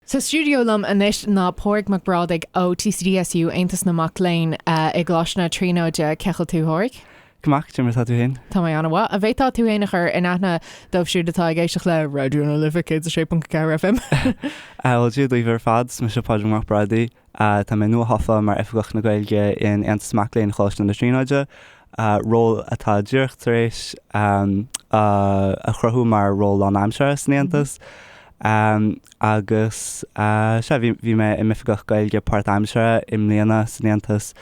Sa stiúideo liom anois ná Pádraig Mac Brádaigh ó TCDSU, Aontas na Mac Léinn i gColáiste na Tríonóide. Cén chaoi a bhfuil tú a Phádraig? Go maith, conas atá tú féin? Tá mé an-mhaith. An bhféadfá tú féin a chur in aithne dóibh siúd atá ag éisteacht le Raidió na Life 106.4 FM? Bhuel, Dia daoibh ar fad, is mise Pádraig Mac Brádaigh. Tá mé nuathofa mar Oifigeach na Gaeilge in Aontas Mac Léinn Choláiste na Tríonóide, ról atá díreach tar éis a chruthú mar ról lánaimseartha san Aontas. Agus sea, bhí mé i m'Oifigeach Gaeilge páirtaimseartha i mbliana san Aontas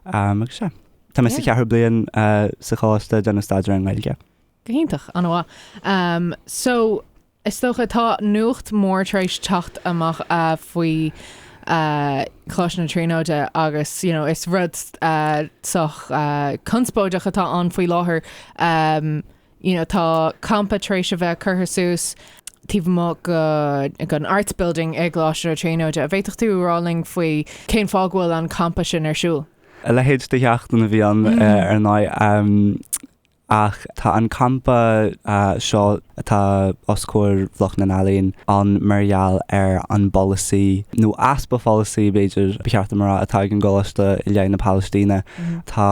agus sea. Tá mé sa cheathrú bliain sa choláiste ag déanamh staidéar ar an nGaeilge. Go hiontach, an-mhaith. So, Is dócha, tá nuacht mór tar éis teacht amach faoi Choláiste na Tríonóide agus you know is rud sách conspóideach atá ann faoi láthair. You know tá campa tar éis a bheith curtha suas taobh amuigh den Arts Building i gColáiste na Tríonóide. An bhféadfadh tú a rá linn faoi cén fáth go bhfuil an campa sin ar siúl? A leithéid de sheachtain a bhí ann ar ndóigh. Ach tá an campa seo, atá os comhair Bhloc na nEalaíon, ann mar gheall ar an bpolasaí, nó easpa pholasaí, b'fhéidir, ba cheart dom a rá, atá ag an gColáiste i leith na Palaistíne. Tá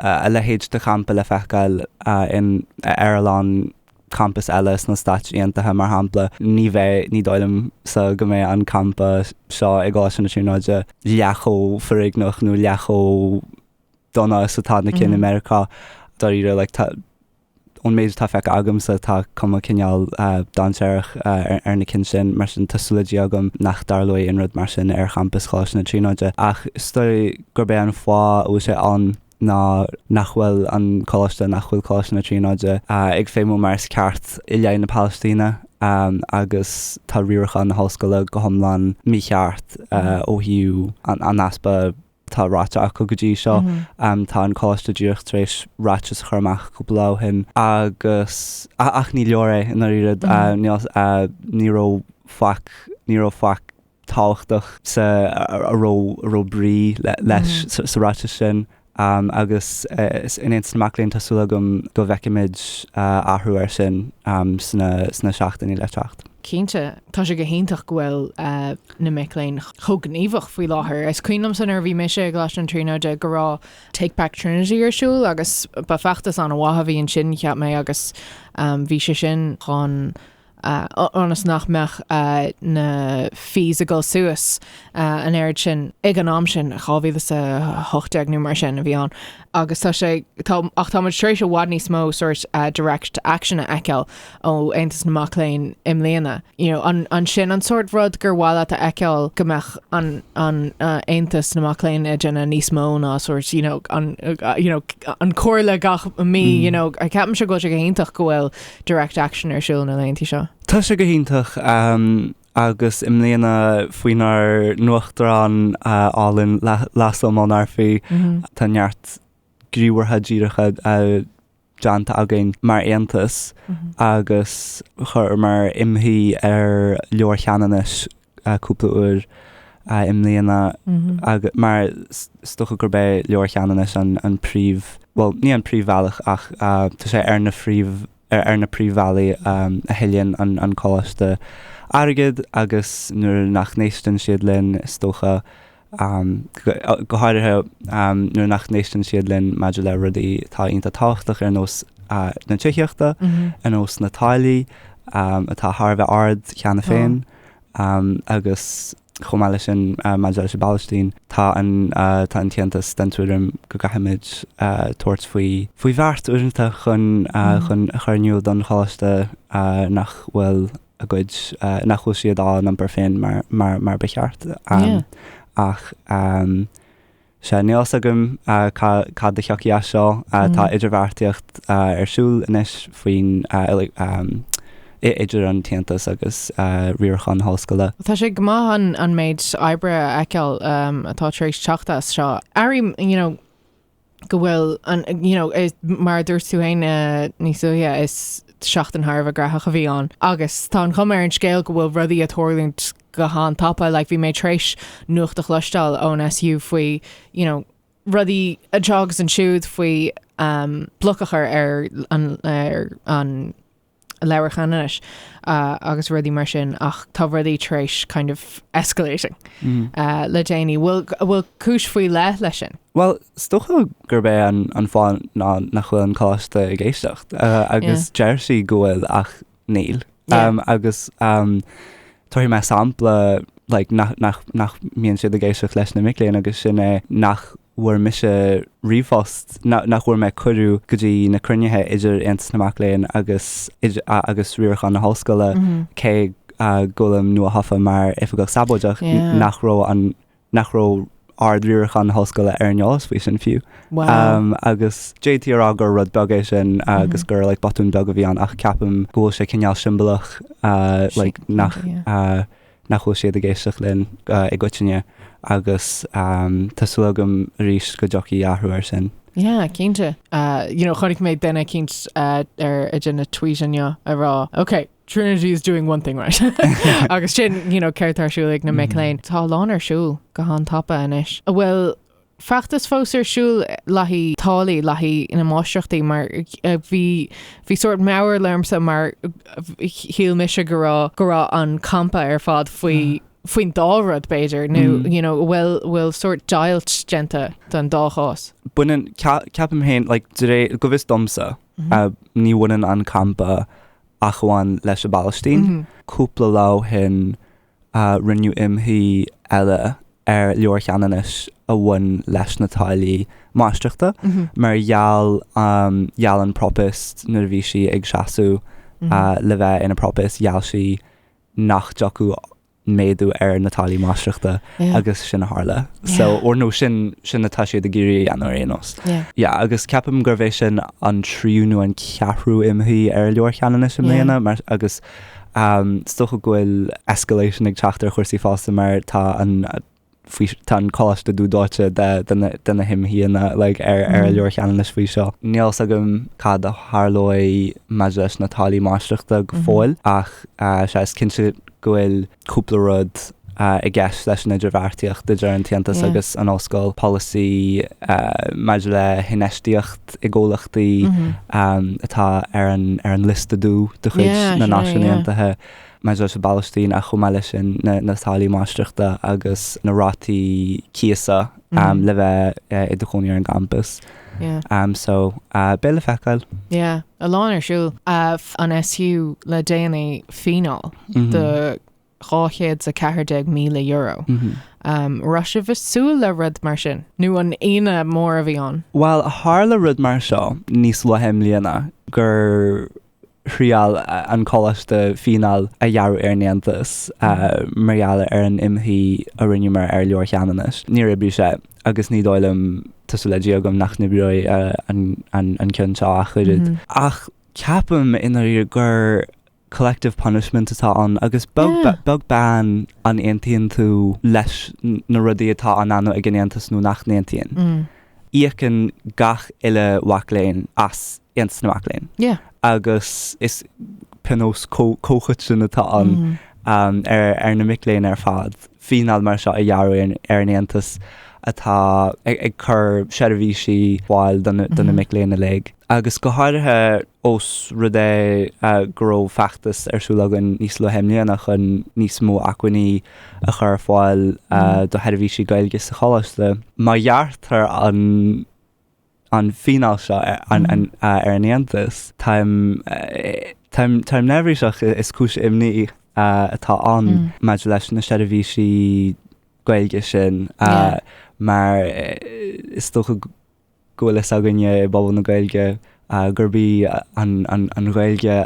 a leithéid de champa le feiceáil ar a lán campas eile sna Stáit Aontaithe, mar shampla. Ní bheidh, ní dóigh liom, sa, go mbeidh an campa seo i gColáiste na Tríonóide leath chomh foréigneach nó leath chomh dona is atá sna cinn i Meiriceá. Dáiríre, like, tá, ón méid atá feicthe agamsa, tá cuma cineál dainséarach ar na cinn sin, mar sin tá súil le Dia agam nach dtarlóidh aon rud mar sin ar champas Choláiste na Tríonóide. Ach is dóigh gurb é an fáth a bhfuil sé ann ná nach bhfuil an coláiste, nach bhfuil Coláiste na Tríonóide ag feidhmiú mar is ceart i leith na Palaistíne, agus tá riarachán na hollscoile go hiomlán mícheart ó thaobh an easpa atá ráite acu go dtí seo. Tá an Coláiste díreach tar éis ráiteas a chur amach cúpla lá ó shin agus, ach ní leor é i ndáiríre. Ní raibh faic, ní raibh faic tábhachtach sa, a raibh, a raibh brí leis sa ráiteas sin agus in Aontas na Mac Léinn tá súil agam go bhfeicfimid athrú air sin sna, sna seachtainí le teacht. Cinnte, tá sé go hiontach go bhfuil na mic léinn chomh gníomhach faoi láthair. Is cuimhin liomsa nuair a bhí mise i gColáiste na Tríonóide go raibh Take Back Trinity ar siúl agus ba feachtas an-mhaith a bhí ansin, cheap mé, agus bhí sé sin chun, ionas nach mbeadh na fees ag dul suas an oiread sin ag an am sin, 2018 nó mar sin a bhí ann. agus tá sé, tá, ach tá muid tar éis i bhfad níos mó sort direct action a fheiceáil ó Aontas na Mac Léinn i mbliana. You know, an, an sin an sort rud gur mhaith leat a fheiceáil go mbeadh an, an, Aontas na Mac Léinn ag déanamh níos mó ná sort, you know, an, you know, an comhairle gach mí, you know, ceapaimse go bhfuil sé go hiontach go bhfuil direct action ar siúl na laethanta seo. Tá sé go hiontach, Agus i mbliana, faoinár n-uachtarán álainn László Molnárfi, tá neart gníomhartha díreacha déanta againn mar Aontas agus chuireamar imshuí ar Leabhar Cheanannais cúpla uair i mbliana mar is dócha gurb é Leabhar Cheanannais an príomh, bhuel, ní an príomhbhealach ach tá sé ar na phríomh. ar na príomhbhealaí a thuilleann an Coláiste airgead agus nuair nach n-éisteann siad linn is dócha, go háirithe nuair nach n-éisteann siad linn maidir le rudaí atá iontach tábhachtach ar nós na tithíochta, ar nós na táillí atá thar a bheith ard cheana féin agus. Chomh maith leis sin, maidir leis an bPalaistín, tá an tAontas den tuairim go gcaithfimid tabhairt faoi bheart uaireanta chun a chur in iúl don Choláiste nach bhfuil a gcuid, nach bhfuil siad á n-iompar féin mar ba cheart ach. Sea, níl fhios agam cad a thiocfaidh as seo. Tá idirbheartaíocht ar siúl anois faoin idir an tAontas agus riarachán na hollscoile. Tá sé go maith an méid oibre a fheiceáil atá tar éis teacht as seo. Airím you know go bhfuil an you know mar a dúirt tú fhéin níos luaithe is seachtain thar a bheith graitheach a bhí ann agus tá an chuma ar an scéal go bhfuil rudaí a' tarlúint go han-tapa, like bhí mé tar éis nuacht a chloisteáil ón SU faoi you know rudaí anseo agus ansiúd faoi um bloc a chur ar an ar an Leabhar Cheanannais uh, agus rudaí mar sin ach tá rudaí tar éis kind of escalating mm. uh, le déanaí bhfuil bhfuil cúis faoi leith leis sin Well is dócha gurb é an, an fáth ná nach bhfuil an Coláiste ag éisteacht uh, agus yeah. deir siad go bhfuil ach níl. Agus tabharfaidh mé sampla like nach nach nach mbíonn siad ag éisteacht leis na mic léinn agus sin é nach bhfuair mise ríomhphost na- nach bhfuair mé cuireadh go dtí na cruinnithe idir Aontas na Mac Léinn agus idir a- agus riarachán na hollscoile cé go bhfuilim nuathofa mar oifigeach sabóideach nach raibh an nach raibh ardriarachán na hollscoile ar an eolas faoi sin fiú. Agus d'fhéadfaí a rá gur rud beag é sin agus gur like botún beag a bhí ann ach ceapaim go bhfuil sé cineál siombalach like nach nach bhfuil siad ag éisteacht linn i gcoitinne agus tá súil agam arís go dtiocfaidh athrú air sin. Yeah, cinnte. You know chonaic mé duine eicínt ag déanamh tweet inniu ag rá, ok, Trinity is doing one thing right agus sin you know, céard atá ar siúl ag na mic léinn. Tá a lán ar siúl go han-tapa anois. An bhfuil feachtas fós ar siúl le haghaidh táillí, le haghaidh na máistreachtaí mar bhí bhí sórt mearbhall ormsa mar shíl mise go raibh go raibh an campa ar fad faoi faoin dá rud b'fhéidir nó you know, bhuel bhfuil sórt deighilt déanta don dá chás. Baineann, ceapaim féin, like, de réir go bhfios domsa ní bhaineann an campa ach amháin leis an bPalaistín. Cúpla lá ó shin rinneadh imshuí eile ar Leabhar Cheanannais a bhain leis na táillí máistreachta mar gheall gheall an Propast nuair a bhí sí ag seasamh le bheith ina Propast gheall sí nach dtiocfadh méadú ar na táillí máistreachta agus sin a tharla. So or nó sin sin atá siad ag iarraidh a dhéanamh ar aon nós. Yeah agus ceapaim gurbh é sin an tríú nó an ceathrú imshuí ar Leabhar Cheanannais i mbliana mar agus is dócha go bhfuil escalation ag teacht ar chúrsaí fosta mar tá an faoi, tá an coláiste dúdóite de na himshuíonna like ar ar Leabhar Cheanannais faoi seo. Níl fhios agam cad a tharlóidh maidir leis na táillí máistreachta go fóill ach sea is cinnte go bhfuil cúpla rud i gceist leis an idirbheartaíocht idir an tAontas agus an ollscoil, polasaí maidir le hinfheistíocht i gcomhlachtaí atá ar an ar an liosta dubh de chuid na Náisiún Aontaithe. maidir leis an bPalaistín ach chomh maith leis sin na táillí máistreachta agus na rátaí cíosa le bheith i do chónaí ar an gcampas so beidh le feiceáil. Yeah, a lán ar siúl. Fuair an SU le déanaí fíneáil de €214,000. Raibh sibh ag súil le rud mar sin nó an ionadh mór a bhí ann? Bhuel, tharla rud mar seo níos luaithe i mbliana gur. thriail an coláiste fíneáil a ghearradh ar an Aontas mar gheall ar an imshuí a rinneamar ar Leabhar Cheanannais. Níor oibrigh sé, agus ní dóigh liom, tá súil le Dia agam, nach n-oibreoidh an ceann seo ach oiread. Ach ceapaim i ndáiríre gur collective punishment atá ann, agus beag beann an aontaíonn tú leis na rudaí atá á ndéanamh ag an Aontas nó nach n-aontaíonn. íocann gach uile mhac léinn as Aontas na Mac Léinn. Yeah. Agus is pionós comhchoiteann atá ann ar na mic léinn ar fad fíneáil mar seo a ghearradh ar an Aontas atá ag cur seirbhísí ar fáil do na mic léinn uilig. agus go háirithe ós rud é go raibh feachtas ar siúl againn níos luaithe i mbliana chun níos mó acmhainní a chur ar fáil do sheirbhísí Gaeilge sa choláiste. Má ghearrtar an fíneáil seo ar an Aontas, táim neirbhíseach, is cúis imní atá ann maidir leis na seirbhísí Gaeilge sin mar is dócha go bhfuil a fhios againne i bpobal na Gaeilge gurb í an Ghaeilge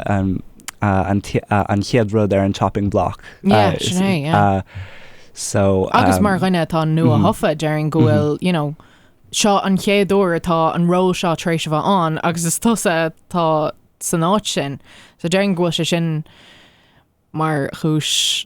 an chéad rud ar an chopping block. Yeah, sin é, yeah. Agus mar dhuine atá nua-thofa, déarfainn go bhfuil, you know, seo an chéad uair atá an ról seo tar éis a bheith ann agus is tusa atá san áit sin. So déarfainn go bhfuil sé sin mar chúis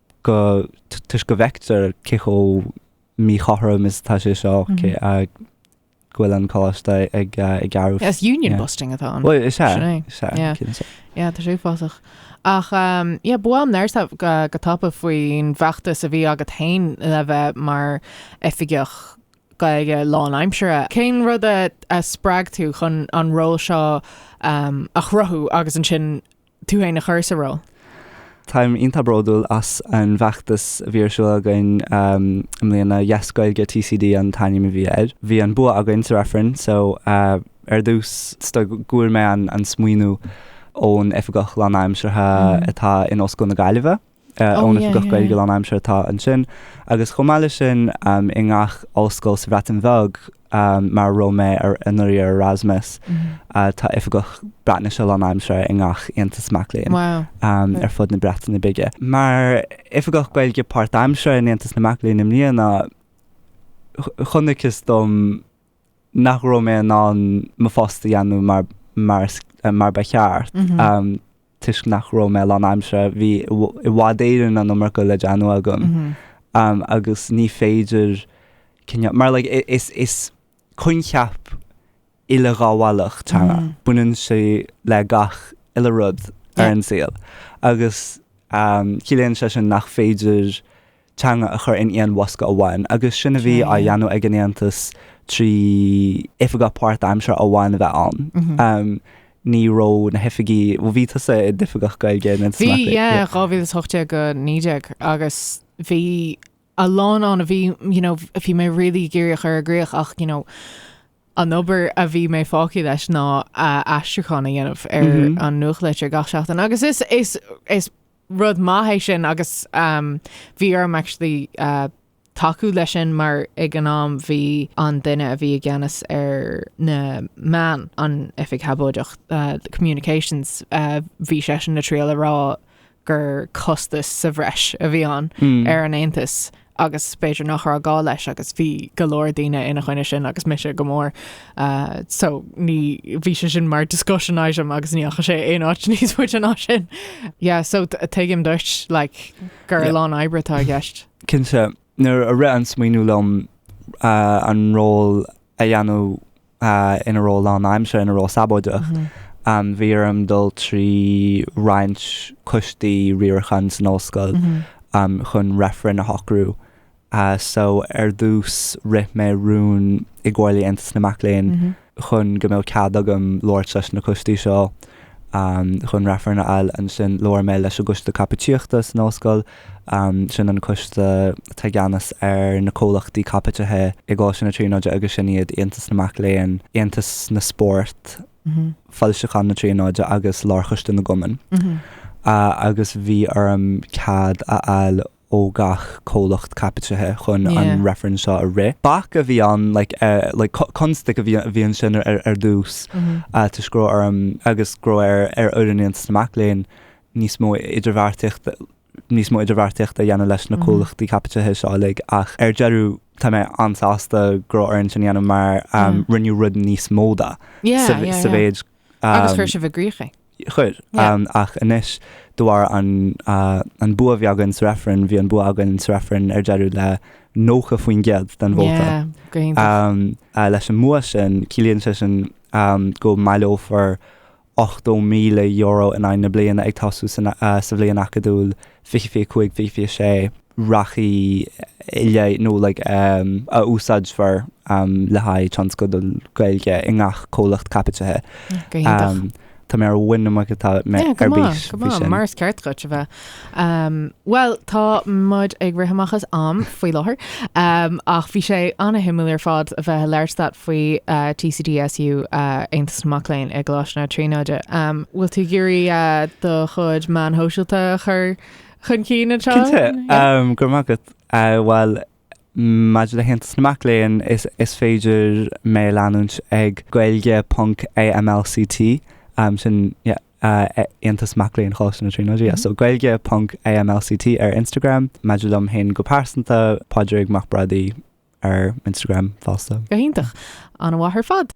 go toisc go bhfeictear cé chomh míchothrom is atá sé seo go bhfuil an coláiste ag gearradh. Is union busting atá ann. Bhuel, sin é, sin é, sin é. Ia, tá sé uafásach. Ach ia, ba mhaith liom labhairt go tapa faoin bhfeachtas a bhí agat féin le bheith mar oifigeach Gaeilge lánaimseartha. Cén rud a spreag tú chun an ról seo a chruthú agus ansin tú féin a chur sa ról? Táim iontach bródúil as an bhfeachtas a bhí ar siúl againn i mbliana, Yes Gaeilge TCD an t-ainm a bhí air. Bhí an bua againn sa reifreann so ar dtús is dócha go bhfuair mé an smaoineamh ón oifigeach lánaimseartha atá in Ollscoil na Gaillimhe. ón Oifigeach Gaeilge lán aimsire atá ansin agus chomh maith leis sin i ngach ollscoil sa Bhreatain Bheag mar a raibh mé anuraidh ar Erasmus tá Oifigeach Breatnaise lán aimsire i ngach aontas mac léinn ar fud na Breataine Bige. Mar Oifigeach Gaeilge páirt aimsire in Aontas na Mac Léinn i mbliana chonacthas dom, nach raibh mé in ann mo phost a dhéanamh mar mar is mar ba cheart toisc nach raibh mé lán aimsire. Bhí i bhfad Éireann an iomarca le déanamh agam agus ní féidir cineál mar like i- is- is coincheap uileghabhálach teanga. Baineann sé le gach uile rud ar an saol agus ciallaíonn sé sin nach féidir teanga a chur in aon bhosca amháin agus sin a bhí á dhéanamh ag an Aontas trí oifigeach páirtaimseartha amháin a bheith ann. Ní raibh na hoifigí, bhuel bhí tusa i d'oifigeach Gaeilge in Aontas na Mac Léinn. Bhí, yeah, 2018-19 agus bhí a lán ann a bhí, you know, bhí mé really ag iarraidh a chur i gcrích ach, you know, an obair a bhí mé fágtha leis ná aistriúchán a dhéanamh ar an nuachtlitir gach seachtain agus is, is, is, rud maith é sin agus bhí orm actually tacú leis sin mar ag an am bhí an duine a bhí i gceannas ar na meáin, an oifig shabóideach, the communications, bhí seisean ag triail a rá gur costas sa bhreis a bhí ann ar an aontas agus b'fhéidir nach raibh gá leis agus bhí go leor daoine ina choinne sin agus mise go mór so ní bhí sé sin mar discussion item agus ní dheachaigh sé aon áit níos faide ná sin. Yeah so tuigim dóibh like gur yeah. lán oibre atá i gceist. Cinnte nuair a rith an smaoineamh liom uh, an ról a dhéanamh ina ról lánaimseartha, ina ról sabóideach. Bhí orm dul trí roinnt coistí riaracháin san ollscoil chun reifreann a shocrú. So ar dtús rith mé rún i gComhairle Aontas na Mac Léinn chun go mbeadh cead agam labhairt leis na coistí seo chun reifreann a fháil. Ansin labhair mé leis an gcoiste caipitíochta san ollscoil. sin an coiste atá i gceannas ar na comhlachtaí caipitithe i gColáiste na Tríonóide agus sin iad Aontas na Mac Léinn, Aontas na Spórt, Foilseacháin na Tríonóide agus Lárchoiste na gCumann. Agus bhí orm cead a fháil ó gach comhlacht caipitithe chun an reifreann seo a rith. Bac a bhí ann, like, constaic a bhí, bhí ansin ar dtús toisc go raibh orm, agus go raibh ar fhoireann Aontas na Mac Léinn, níos mó idirbheartaíochta, níos mó idirbheartaíochta a dhéanamh leis na comhlachtaí caipitithe seo uilig ach ar deireadh tá mé an-sásta go raibh orainn sin a dhéanamh mar rinneadh rud níos mó de sa mhéid agus chuir sibh i gcrích é. Chuir, ach anois de bharr an bua a bhí againn sa reifreann, bhí an bua againn sa reifreann ar deireadh le 90% den vóta. Leis an mbua sin ciallaíonn sé sin go mbaileofar €80,000 in aghaidh na bliana ag tosú sa bhliain acadúil 25, 26. a rachaidh i leith nó a úsáidfear le haghaidh tionscadail Gaeilge i ngach comhlacht caipitithe. Tá mé ar mhuin na muice, tá mé ar bís faoi sin. Mar is ceart duit a bheith. Bhuel tá muid ag rith amach as am faoi láthair ach bhí sé an-shuimiúil ar fad a bheith ag labhairt leat faoi TCDSU, Aontas na Mac Léinn i gColáiste na Tríonóide. An bhfuil tú ag iarraidh do chuid meáin shóisialta a chur chun cinn anseo? Cinnte, go raibh maith agat. Bhuel Maidir le hAontas na Mac Léinn, is féidir mé a leanúint ag gaeilge ponc AMLCT, sin Aontas Mac Léinn Choláiste na Tríonóide, so gaeilge ponc AMLCT ar Instagram. Maidir liom féin go pearsanta, Pádraig Mac Brádaigh ar Instagram fosta. Go hiontach, an-mhaith ar fad.